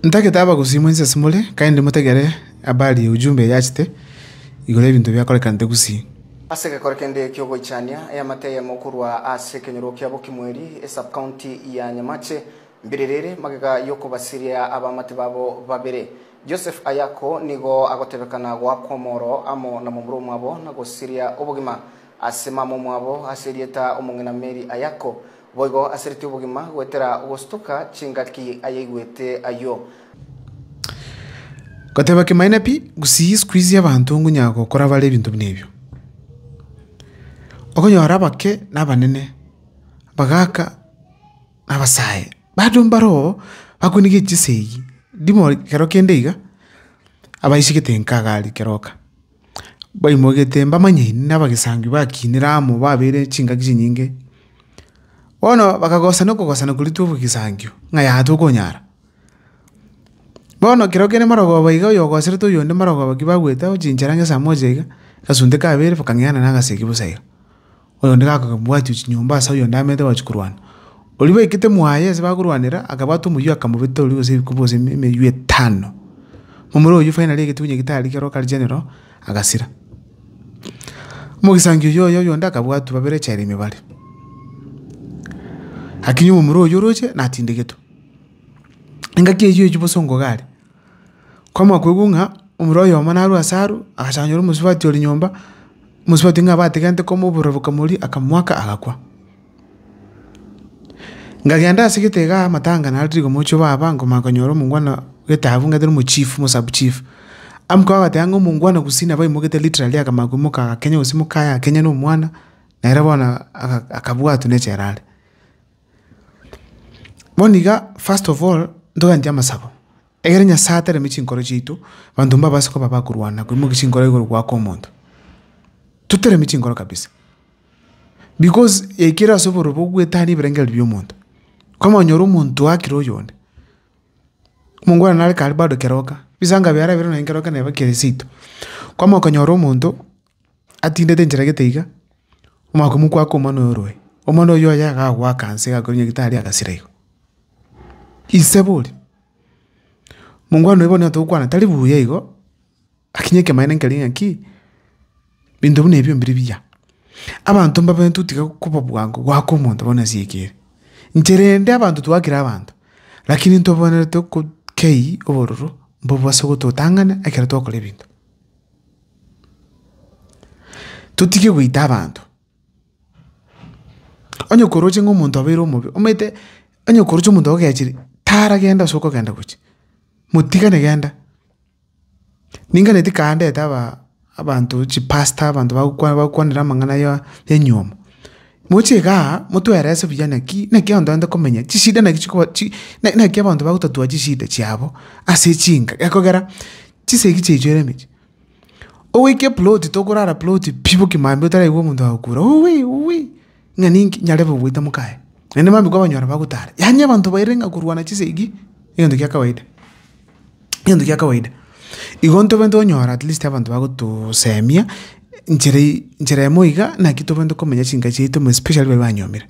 Ntagete abagusii mwensi ase more, kaende motegere habari y'Eujumbe eye achete igoro y'ebinto biakorekanete gusii. Ase egekore kende ki'ogoichania eamate eyemo korwa ase ekenyoro kia Bokimweri, esub-county ya Nyamache, mbiriri ere magega y'okobasiria abamate babo babere. Joseph Ayako nigo agotebekana goakwa omoro amo na momura omwabo na gosiria obogima ase mama omwabo ase erieta Omong'ina Mary Ayako, Boigo asereti obogima goetera ogosutoka chingaki ayaigwete ayio. Goteba kimaene pi, gusii siku izi abanto ngonya gokora bare ebinto buna ebio. Okonyora abake na abanene, abagaaka na abasae bado mbaro bakwenegete chisegi ndimo kero kende iga, abaisigete enka iga aria kero oka. Baimogete mbamanyaine n'abagesaangi bakinire amo babeire chingaki chinyinge. Bono bakagosana okogosana koria tw'obogesangio ng'a yaya tokonyara. Bono ekero kere marogoba iga oyogoserete oyonde marogoba ki bagwete aochinchera ngesamoja iga, agasunda kabere bakang'eana nagasegi bosa iga. oyonde gakobwatia chinyomba ase oyonde amerete gochia korwana. Oria baikete mwaye ase bakorwanera akabwata omoyio akamobeta oria gose ebikuba gose emeywo etano. Omoro oyio finally egetuba nyagetari kero kare general agasira. Omogisangio oyio oye oyonde akabwatwa babere echela ime bare. Lakini omomura oyio oroche natindegetwe. Engaki eyio echwe bosa onkoga are. Kwamakoigwa ng'a omura oyomo narue ase arwe, agachanchora omosubati ore nyomba, omosubati ng'a abategerete komobora bokamoria, akamoaka, agakwa. Nkagenda ase egete igaa amatanga naro tari komochie obaba, nkomanya konyora omongwana getabu ng'a tari omochief, omosub chief. Amokaba agateba ng'a omongwana gusii nabo aimoketie literally akamanya koimoka agakenya gosimoka aye akenya na omwana, nere bono aga akabwatwa na echela are. Bono iga first of all ntogende amasabo, ekero Nyasaye ataremeti chinkoro chiaito, abanto mbabase koba bakorwana na koimokia chinkoro igoro goaka omonto. Toteremi chinkoro kabisa, because yaikire ase oborobia bwa goetania ebirengererio bia omonto. Kwamanya onyore omonto oakire oyonde, omongwana nare kare bado keroka, bisanga biarabire nonye keroka neba kere seito. Kwamanya okonyora omonto. Atindete enchera gete iga, omwaka oyio mokwake omwana oye orue. Omwana oyio oye iga agoaka nse iga akoria nyagitari agasira igo. Inse boria, mongwana oyio bono nigo togokwana tari buya igo, lakini ekemanyeto nkeria ng'aki, binto buna ebio mbiri biya. Abanto mbabe totiga koba bwango goaka omonto bono ase eke ere. Nchera ende abanto twakire abanto, lakini ntobanerete kei obororo mbobwo ase ogototang'ana ekero twakora ebinto. Totige goita abanto. Onye koroche ng'a omonto obeire omobe, omanyete onye koroche omonto ogechire, taragenda ase okogenda gochia, motigane genda. Ninganeti kare ndete aba abanto chipastor abanto bagokwa bagokwanera amang'ana ya enyiomo. Moche igaa, motwerese buya naki naki abanto barenta komenya, chishida naki chikoba chi na naki abanto bagotatua chishida chiabo ase chinka gekogera. Chisegi chiaito ere emechie. Ogoika eploti tokorara ploti pi boki maambia otaraigwa omonto agokura uwii uwii ng'a ninki nyarebe goita mokaye. Naende maambia kwa abanyora bagotara. Yaani abanto bairire ng'a korwana chisegi egento kia kawaida. Egento kia kawaida. Igo ntobe ntonyora at least abanto bagotosemia nchera eye nchera emo iga naki tobe ntokomenya chinka chiaito especially baria banyomire.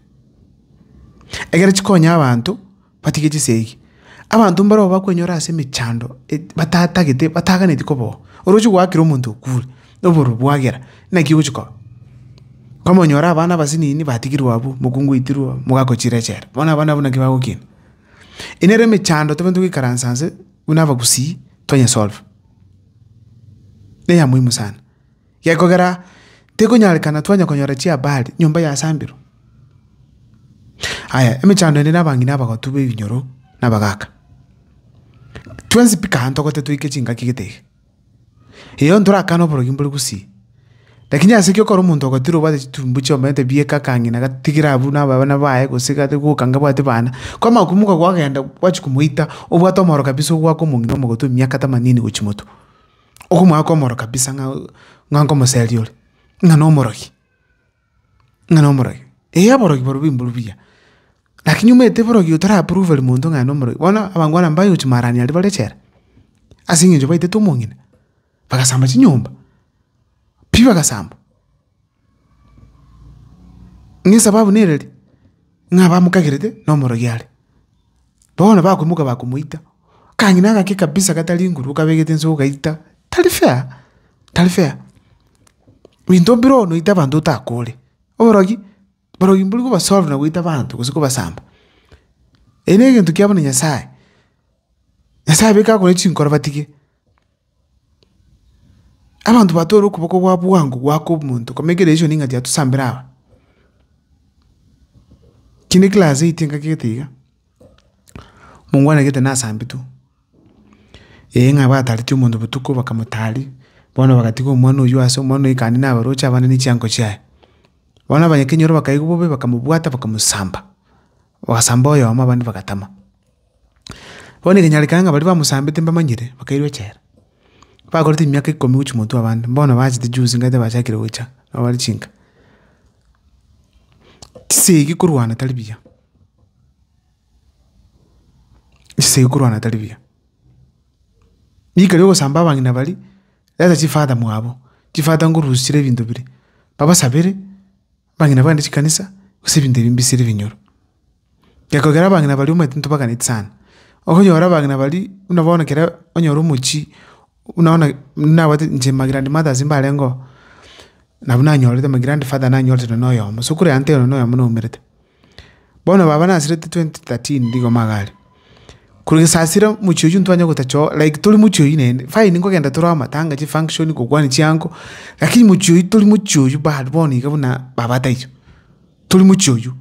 Egere chikonya abanto. Batige chisegi. Abanto mbarabwo bakwenyora ase emechando batatagete bataganeti koboa. Oroche goakera omonto okure, obororo bwagera, naki ogochi koba? Komonyora abana abasinini batigirwe abwo, mokungu oitirwe oo, mogakochire echela. Bono abana abwo naki bagokina? Eye nere emechando tobaete goikaransa nse buna abagusii, tonya solve. Neya moimu sana. Gekogera tikonyarekana twanya konyora chiabari nyomba yasambirwe. Aya, emechando ende nabang'ina abagotu b'ebinyoro na abagaaka. Twensi pi kare ntogote toike chingaki gete iga. Eyo ntorakane oborogi mbore gusii. Lakini ase ekio okore omonto ogatira obwate chitumbu chiomanyete bieka akang'ina agatigira abwo na abana baye gose iga ategoka anga abwate bana. Kwa amakumbu iga gwagenda gwachia komoita obwate omoro kabisa ogwaka omong'ina omogotu emiaka themanini gochia motwe. Okomwaa komoro kabisa ng'a ng'a nkomoseria ore, ng'a nomorogi, ng'a nomorogi. Eeh aborogi barobwo mborobwo buya, lakini omanyete borogi oyo torapruveri monto ng'a aye nomorogi, bono abangwana mbayochi maarani aria bare echela, ase eng'encho baitete omong'ina, bagasamba chinyomba, pi bagasamba. Ng'a esababu nere eri, ng'a bamokagerete na omorogi are. Bono bakoimoka bakomoita, kang'ina agake kabisa gatari nguru okabegete inse ogaita, tari fair, tari fair. Ebinto mbire oo noite abanto otakore. Oborogi, borogi mbori kobasolve na goita abanto gose kobasamba. Eye na egento kia buna Nyasaye, Nyasaye abe kakorwa chinkoro batige. Abanto batore okoboko gwa bwango goaka omonto komeka eria isiko ning'ati atusambera aba. Kinde class eite ngaki gete iga, mongwana gete nasambetwe, eye ng'a batareti omonto botuko bakamotari, bono bagatiga omwana oywo ase omwana oyo kandi nabaroche abande ne chiango chiaye. Bono abanyakenyoro bakaigwa bobe bakamobwata bakamosamba. Bagasamba oyomo, abande bagatama. Bono ekenyarekana ng'a baria bamosambete mbamanyire, bakairwa echela. Bakorete emiaka ikomi gochia motwe abande, bono bachete juzi ng'aete bachakire gocha, nabo bare chinka. Chisegi korwana tari buya, chisegi korwana tari buya. Rika riogosamba abang'ina baria, reta chifadha mwabo, chifadha ngorusia chire ebinto biria, babasabere. Abang'ina bagane chikanisa, gose ebinto ebi mbisire ebinyoro. Gekogera abang'ina baria omanyete ntobaganeti sana. Okonyora abang'ina baria buna bono ekero onyora omochie buna bono nabwate inche my grand mothers mbarengeo, nabwo nanyorete my grand father nanyorete nonye na oyomo, so kore ante oyomo nonye na oyomo naumerete. Bono baba nasirete twenty thirteen nigo magare. Korwa gesasira omochie oywo ntwanye gotacha oo like tori mochie oywo naende, fine nkogenda tore amatanga, chifunction, gokwania chiango, lakini mochie oywo tori mochie oywo bado bono iga buna baba taiyo, tori mochie oywo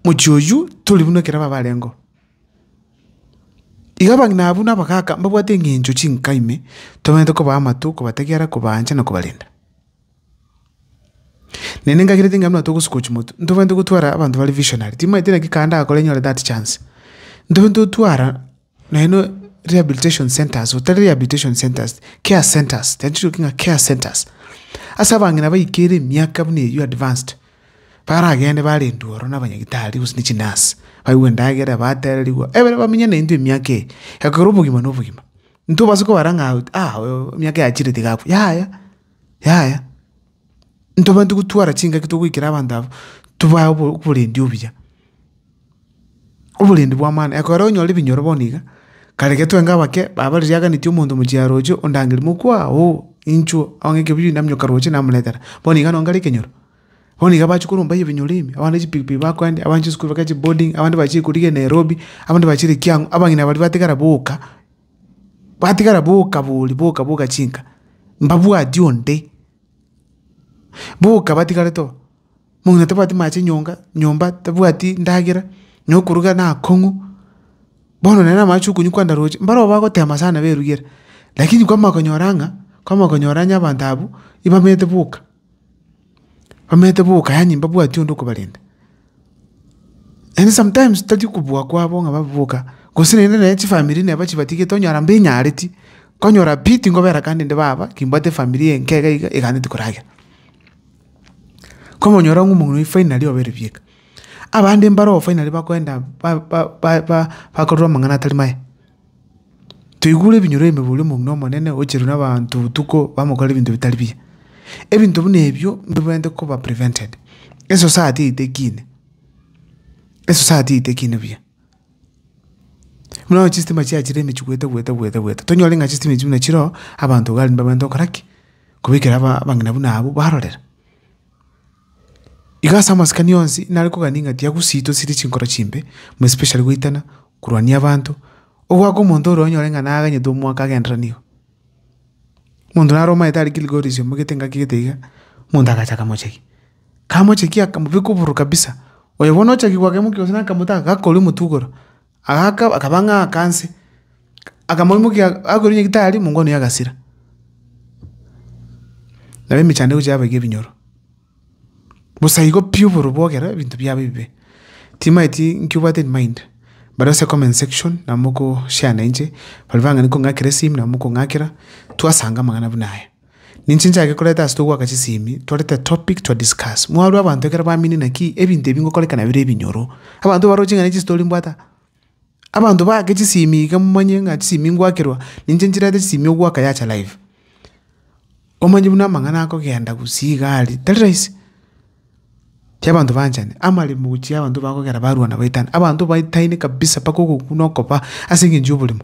mochie oywo tori buna ekero baba barenge oo. Iga abang'ina abwo na abagaka mbabwate eng'encho chinka ime, tobwenerete kobaa amatu, kobategera, kobaancha na kobarenda. Nene ngagera ting'ani buna togosuka gochia motwe, ntobwenerete gotwara abanto bare visionary, timaeti naki kare ndakore nyore that chance. Ntobwenerete gotwara naende rehabilitation centres, otari rehabilitation centres, care centres, nachiroki ng'a care centres. Ase abang'ina baikire ere emiaka buna eyio advanced, baragende barendwe ororo na abanyagitari gose na chinurse, baigwe endagera, batererigwa, ebere bamenye naintwe emiaka eye, ekero obogima na obogima. Ntobasa kobara ng'a emiaka yachire tiga akwe, yaya. Yaya, ntobwenerete gotwara chingaki togoikera abanto aba, tobae oborendi obuya, oborendi bw'amang'ana. Ekero onyora ebinyoro bono iga, kare ekero tweng'ana abake, baba riaganeti omonto mochia roche ondangere mokwa oo, inchuo, onye ekeguyu naminyoka roche namoretera. Bono iga nonye kare ekenyoro, bono iga bachia koromba ebinyoro ebi, abande chipikipiki bakoendia, abande chisukuru bagache boarding, abande bachie korigia Nairobi, abande bachie Likiang'u, abang'ina baria batigara boka. batigara boka bori boka boka chinka mbabwati onde boka batigarete oo mong'ina tabwati amache nyonga nyomba tabwati ndagera nyo okoruga nakong'u bono nere amache okonywa kwandaroche mbaroo bagotema sana berugera lakini kwama konyora ng'a kwama konyora onye abanto abwo ibamenyete boka. Bamenyete boka yaani mbabwati onde okobarenda. And sometimes tari kobua kwabo ng'a babe boka, gose naende nonye chifamiri neba chibatigete onyora mbinyareti, konyora pi tinkobera kande inde baba, kimbwate efamiri eye enke iga iga eganeti koragera. Komonyora ng'a omong'ina oyi finally obere bieka. Abande mbaro finally bakoenda ba- ba- ba- ba- bakorora amang'ana atari maya. Toigure ebinyoro ime boria omong'ina omonene ocherwe nabaanto botuko bamokorera ebinto bitari biya. Ebinto buna ebio mbibwenerete koba prevented. Esociety eitekine, esociety eitekine buya. Buna bono chistima chiachire emechie goeta goeta goeta goeta, tonyore ng'a chistima echio buna chiroo, abanto iga aria mbabwenerete gokora ki? Kobekera aba abang'ina buna abwo barorera. Igo ase amasikani onsi nare kogania ng'a tiagusiitwe chire chinkoro chimbe, more especially goitana, korwania abanto, ogoaka omonto ore onyore ng'a naganyete omwaka agendererani iga. Omonto nare omanyete are Kilgoris omogete engaki gete iga, omonto agacha akamochekia. Kamochekia akamobeka obororo kabisa, oyo bono ochaki goaka emokia gose na akamotaaka, gakoria omotwe igoro. Agaaka, akaba ng'a aaka nse, akamoimokia agakorokia nyagetari mong'wanire agasira. Nabo emechandiko chiabo eke ebinyoro, bosa igo pi oboru bwogera ebinto biabo ebibe. Timaeti inki obwate in mind, baria ase comment section nabo moko share nainche, baria bang'ani kong'akera esimi nabo mokong'akera, twasanga amang'ana buna aya. Ninche nchake koreta ase togwaka chisemi torete topic to discuss. Mwarwe abanto ekero baminie naki ebinto ebi ngokoreka nabire ebinyoro. Abanto baroche ng'a ne chistory mbwate aa. Abanto baake chisemi iga momanye ng'a chisemi ngwakerwa ninche nchirete chisemi ogwaka yacha live. Omanye buna amang'ana akogenda gusii iga aria tari rahisi. Ki abanto banchani, amaremo gochia abanto bakogera barwana baitana. Abanto baitaine kabisa mpaka ogokwa na okoba ase eng'encho y'oborimo.